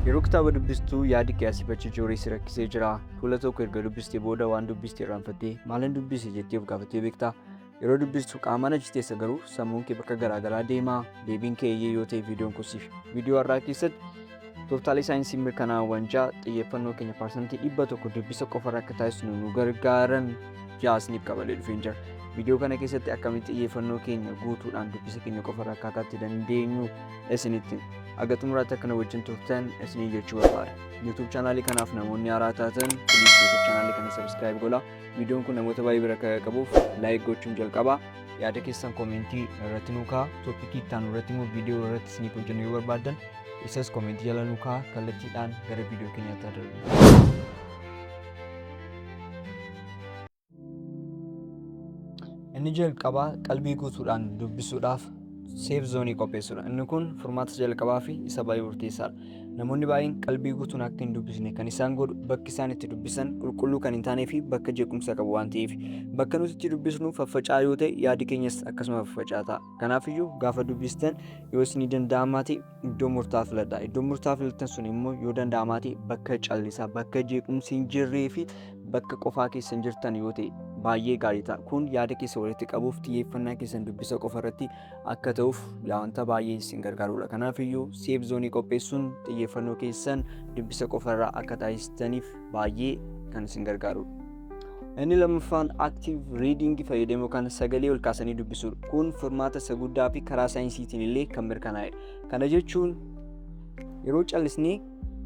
Yeroo kitaaba dubbistu yaadi kee asii fachi jooree si rakkisee jira. Fuula tokko erga dubbistee booda waan dubbiste irraanfattee maalan dubbise jettee of gaafattee beektaa? Yeroo dubbistu qaamaan achi teessa garuu sammuun kee bakka garaagaraa deema. Deebiin kee eeyyee yoo ta'e viidiyoon kun siif. Viidiyoo har'aa keessatti tooftaalee saayinsii mirkanaa'aawwan ja'a xiyyeeffannoo keenya parsantii dhibba tokko dubbisa qofarra akka taasisnu nu gargaaran ja'a isiniif qabalee dhufeen jira. Viidiyoo kana keessatti akkamitti xiyyeeffannoo keenya guutuudhaan dubbisa keenya qofarra akka kaa'uu dandeenyu isinitti haga xumuraatti akka na wajjin turtan isiniin jechuu barbaada. YouTube chaanaalii kanaaf namoonni haaraa taatan please YouTube chaanaalii kana subscribe godha. Viidiyoon kun namoota baay'ee bira akka qabuuf like gochuun jalqaba. Yaada keessan koomentii irratti nuu kaa'a. Tooppikii itti aanu irratti immoo viidiyoo irratti isiniif hojjennu yoo barbaaddan isas koomentii jala nuu kaa'a kallattiidhaan gara viidiyoo keenyaatti haa darbu. Inni jalqabaa qalbii guutuudhaan dubbisuudhaaf seef zoonii qopheessuudha. Inni kun furmaata jalqabaa fi isa baay'ee murteessaadha. Namoonni baay'een qalbii guutuun akka hin dubbisne kan isaan godhu bakki isaan itti dubbisan qulqulluu kan hin taanee fi bakka jeequmsa qabu waan ta'eef bakka nuti itti dubbisnu faffaca'aa yoo ta'e yaadi keenyas akkasuma faffaca'aa ta'a. Kanaafiyyuu gaafa dubbistan yoo isinii danda'amaa ta'e iddoo murtaa'aa filadha. Iddoon murtaa'aa filattan sun immoo yoo danda'amaa ta'e bakka callisaa, bakka jeequmsi hin jirree fi bakka qofaa keessan jirtan yoo ta'e baay'ee gaarii ta'a. Kun yaada keessa walitti qabuuf xiyyeeffannaa keessan dubbisa qofa irratti akka ta'uuf wanta baay'ee isin gargaarudha. Kanaaf iyyuu seef zoonii qopheessuun xiyyeeffannoo keessan dubbisa qofa irraa akka taasistaniif baay'ee kan isin gargaarudha. Inni lammaffaan active reading fayyadamuu kan sagalee ol kaasanii dubbisuudha. Kun furmaata isa guddaa fi karaa saayinsiitiin illee kan mirkanaa'edha. Kana jechuun yeroo callisnee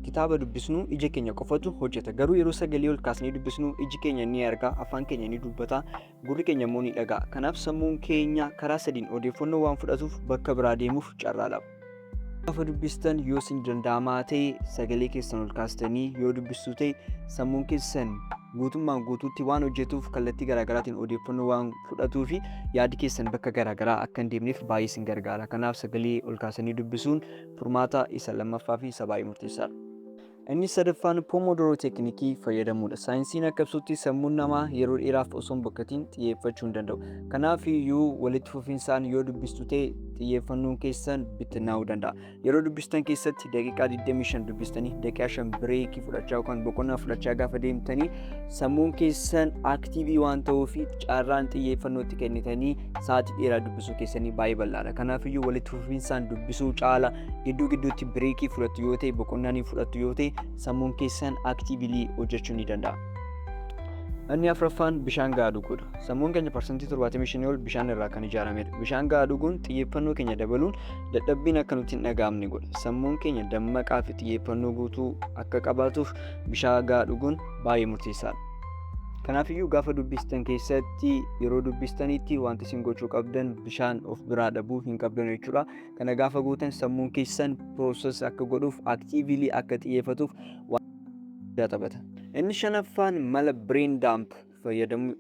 kitaaba dubbisnu ija keenya qofatu hojjeta. Garuu yeroo sagalee ol kaasnee dubbisnu iji keenya ni arga, afaan keenya ni dubbata, gurri keenya immoo ni dhaga'a. Kanaaf sammuun keenya karaa sadiin odeeffannoo waan fudhatuuf bakka biraa deemuuf carraa lama. Gaafa dubbistan yoo isin danda'amaa ta'e sagalee keessan ol kaastanii yoo dubbistuu ta'e sammuun keessan guutummaan guutuutti waan hojjetuuf kallattii garaagaraatiin odeeffannoo waan fudhatuu fi yaadi keessan bakka garaagaraa akka hin deemneef baay'ee isin gargaara. Kanaaf sagalee ol kaasanii dubbisuun furmaata isa lammaffaa fi isa baay'ee murteessaadha. Inni sadaffaan Pomodoro teeknikii fayyadamuudha. Saayinsiin akka ibsutti sammuun namaa yeroo dheeraaf osoo hin bokkatiin xiyyeeffachuu hin danda'u. Kanaaf iyyuu walitti fufinsaan yoo dubbistu ta'e xiyyeeffannoon keessan bittinnaa'uu danda'a. Yeroo dubbistan keessatti daqiiqaa 25 dubbistanii daqiiqaa 5 bireekii fudhachaa yookaan boqonnaa fudhachaa gaafa deemtanii sammuun keessan aktiivii waan ta'uu fi carraan xiyyeeffannootti kennitanii sa'aatii dheeraa dubbisuu keessanii baay'ee bal'aadha. Kanaaf iyyuu walitti fufinsaan dubbisuu caala gidduu gidduutti bireekii fudhattu yoo ta'e boqonnaa ni fudhattu yoo ta'e sammuun keessan aktiivilii hojjechuu ni danda'a. Inni afraffaan bishaan gahaa dhuguudha. Sammuun keenya parsantii 75 ol bishaan irraa kan ijaaramedha. Bishaan gahaa dhuguun xiyyeeffannoo keenya dabaluun dadhabbiin akka nutti hin dhaga'amne godha. Sammuun keenya dammaqaa fi xiyyeeffannoo guutuu akka qabaatuuf bishaan gahaa dhuguun baay'ee murteessaadha. Kanaafiyyuu gaafa dubbistan keessatti yeroo dubbistanitti wanti isin gochuu qabdan bishaan of biraa dhabuu hin qabdan jechuudha. Kana gaafa gootan sammuun keessan process akka godhuuf actively akka xiyyeeffatuuf waan guddaa taphata. Inni shanaffaan mala brain dump fayyadamuu.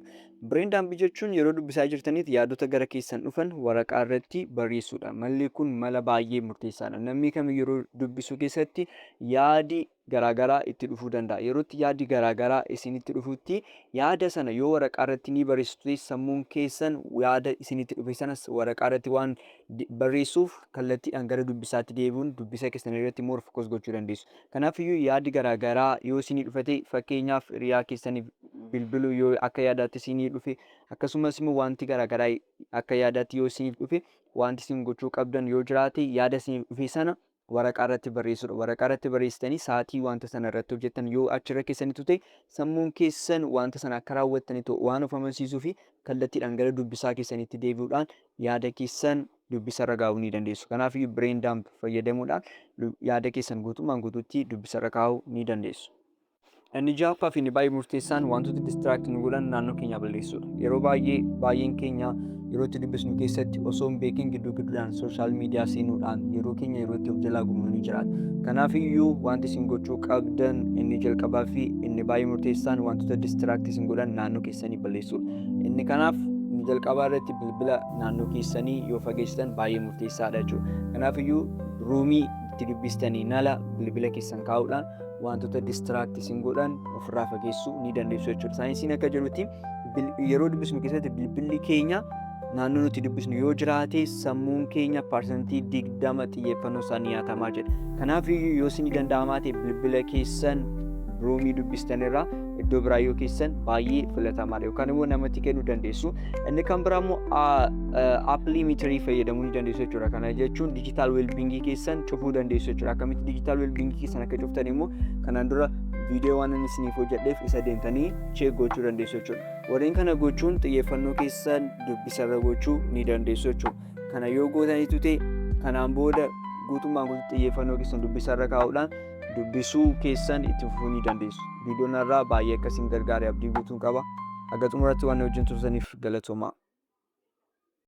Brain dump jechuun yeroo dubbisaa jirtanitti yaadota gara keessan dhufan waraqaa irratti barreessuudha. Malli kun mala baay'ee murteessaadha. Namni kamiyyuu yeroo dubbisuu keessatti yaadi garaagaraa itti dhufuu danda'a. Yerootti yaaddi garaagaraa isinitti dhufutti yaada sana yoo waraqaa irratti ni barreessitu ta'e sammuun keessan yaada isinitti dhufe sana waraqaa irratti waan barreessuuf kallattiidhaan gara dubbisaatti deebi'uun dubbisa keessan irratti more focus gochuu dandeessu. Kanaaf iyyuu yaaddi garaagaraa yoo isinii dhufe ta'e fakkeenyaaf hiriyaa keessaniif bilbiluu yoo akka yaadaatti isinii dhufe akkasumas immoo wanti garaagaraa akka yaadaatti yoo isiniif dhufe wanti isin gochuu qabdan yoo jiraate yaada isiniif dhufe sana waraqaa irratti barreessuudha. Waraqaa irratti barreessitanii sa'aatii wanta sana irratti hojjettan yoo achirra keessanitu ta'e sammuun keessan wanta sana akka raawwattanitu waan of amansiisuu fi kallattiidhaan gara dubbisaa keessanitti deebi'uudhaan yaada keessan dubbisarra gaa'uu ni dandeessu. Kanaaf iyyuu brain dump fayyadamuudhaan yaada keessan guutummaan guutuutti dubbisarra kaa'uu ni dandeessu. Inni ja'affaa fi inni baay'ee murteessaan wantoota distract nu godhan naannoo keenyaa balleessuudha. Yeroo baay'ee baay'een keenya yeroo itti dubbisnu keessatti osoo hin beekin gidduu gidduudhaan sooshaal miidiyaa seenuudhaan yeroo keenya yeroo itti of jalaa gubnu ni jiraata. Kanaaf iyyuu wanti isin gochuu qabdan inni jalqabaa fi inni baay'ee murteessaan wantoota distract isin godhan naannoo keessanii balleessuudha. Inni kanaaf inni jalqabaa irratti bilbila naannoo keessanii yoo fageessitan baay'ee murteessaadha jechuudha. Kanaaf iyyuu ruumii itti dubbistanii nala bilbila keessan kaa'uudhaan wantoota distiraakti isin godhan ofirraa fageessuu ni dandeessu jechuudha. Saayinsiin akka jedhutti yeroo dubbisnu keessatti bilbilli keenya naannoo nuti dubbisnu yoo jiraate sammuun keenya parsantii digdama xiyyeeffannoo isaa ni nyaatamaa jedha. Kanaaf yoo isin danda'amaa ta'e bilbila keessan roomii dubbistanirraa iddoo biraa yoo keessan baay'ee filatamaadha yookaan immoo namatti kennuu dandeessu. Inni kan biraa immoo appilii miitirii fayyadamuu ni dandeessu jechuudha. Kana jechuun diijitaal weelbingii keessan cufuu dandeessu jechuudha. Akkamitti diijitaal weelbingii keessan akka cuftan immoo kanaan dura viidiyoo waan inni isiniif hojjedheef isa deemtanii cheek gochuu dandeessu jechuudha. Warreen kana gochuun xiyyeeffannoo keessan dubbisarra gochuu ni dandeessu jechuudha. Kana yoo gootaniitu ta'e kanaan booda guutummaan guutuu xiyyeeffannoo keessan dubbisarra kaa'uudhaan dubbisuu keessan itti fufuu ni dandeessu. Viidiyoo narraa baay'ee akka isin gargaare abdii guutuun qaba. Haga xumuratti waan wajjin turtaniif galatoomaa.